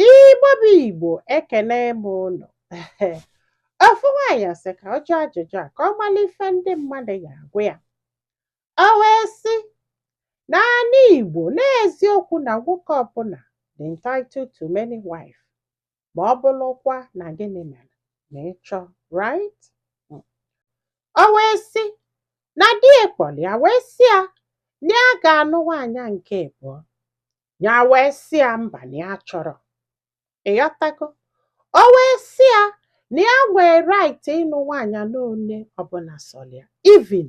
Igbo bụ Igbo ekene m ụnụ ofu nwaanyị sị ka ọ jụọ ajụjụ a ka ọ mara ife ndị mmadụ ga-agwa ya o wee sị n'anị Igbo n'eziokwu na nwoke ọbụla dị entitled to many wife ma ọ bụrụkwa na gịnị mere na ịchọ right hmm. o wee sị na di ya kpọrọ ya wee sị ya na ya ga-anụ nwaanyị nke abụọ ya wee sị ya mba na ya achọrọ ịghọtago o wee sị ya na ya nwee right ịnụ nwaanyị n'one ọbụla sọrọ ya even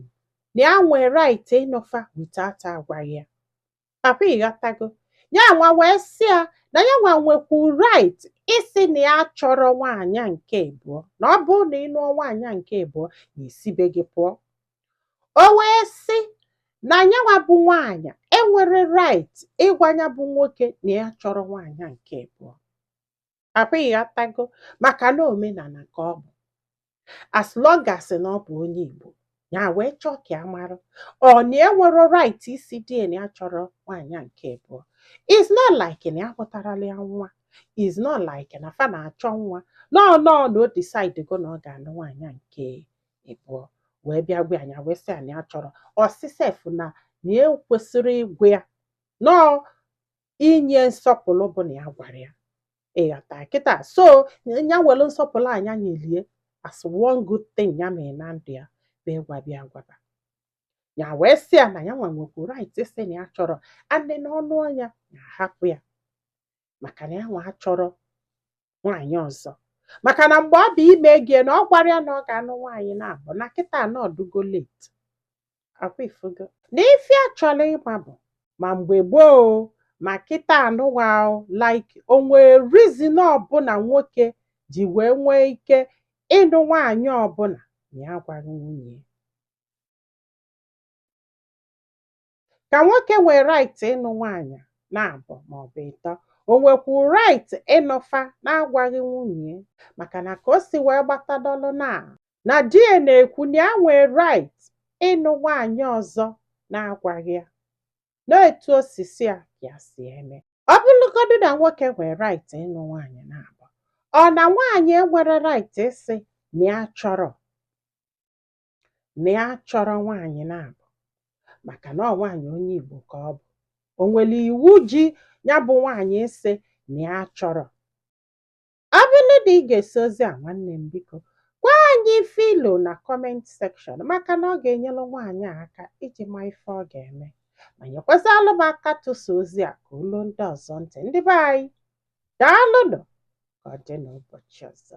na ya nwee right ịnụfa without agwaghị ya akwa ịghọtago ya nwa wee sị ya na ya nwa nwekwu right ịsị na ya achọrọ nwaanyị nke abụọ na ọ bụrụ na ị nụọ nwaanyị nke abụọ ya esi be gị pụọ o wee sị na nya nwa bụ nwaanyị enwerọ right ịgwa ya bụ nwoke na ya achọrọ nwaanyị nke abụọ akwa ịghọtago maka na omenala ka ọ bụ as long as na ọ bụ onye Igbo ya wee chọọ ka ya mara ọ na enwerọ right ịsị di na ya achọrọ nwaanyị nke abụọ is not like na ya amụtarọlụ ya nwa is not like na fa na-achọ nwa no no na o decide go na ọ ga-anụ nwaanyị nke abụọ wee bịa gwa ya nya wee sị ya na ya achọrọ ọ sị sef na na ekwesịrọ ịgwa ya na ọ inye nsọpụrụ bụ na ya gwara ya ịghọta kịta so ya were nsọpụrụ a nya nyelu ya as one good thing ya mere na ndụ ya bụ ịgwa bịa gwaba ya wee sị ya na ya nwa nwekwu right ịsị na ya achọrọ and na ọ nụọ nya ya hapụ ya maka na ya nwa achọrọ nwaanyị ọzọ maka na mgbe ọ bụ ime gị na ọ gwarọ ya na ọ ga-anụ nwaanyị naabọ na kịta na ọ dụgo late akwa ifugo na ife ya chọrọ ịma bụ ma mgbe gboo ma kịta anụwa like o nwee reason ọbụla nwoke ji wee nwee ike ịnụ nwaanyị ọbụla na ya agwarọ nwunye ka nwoke nwee right ịnụ nwaanyị naabọ maọbụ ịtọ o nwekwu right ịnụfa na-agwaghị nwunye maka na ka o si wee gbatadọlụ na na di ya na-ekwu na ya nwee right ịnụ nwaanyị ọzọ na-agwaghị ya na etu o si sọ ya ka ya si eme ọ bụrụgodu na nwoke nwee right ịnụ nwaanyị naabọ ọ na nwaanyị enwerọ right ịsị na ya achọrọ na ya chọrọ nwaanyị na-abụ maka na ọ nwaanyị onye Igbo ka ọ bụ o nwere iwu ji ya bụ nwaanyị ịsị na ya chọrọ ọ bụrụ na i gesịa ozi a nwanne m biko gwa anyị ife i lo na comment section maka na ọ ga-enyere nwaanyị a aka iji ma ife ọ ga-eme ma nyekwazịalụ m aka tụsa ozi a ka o lu ndị ọzọ ntị ndị be anyị daalụnụ ka ọ dị n'ụbọchị ọzọ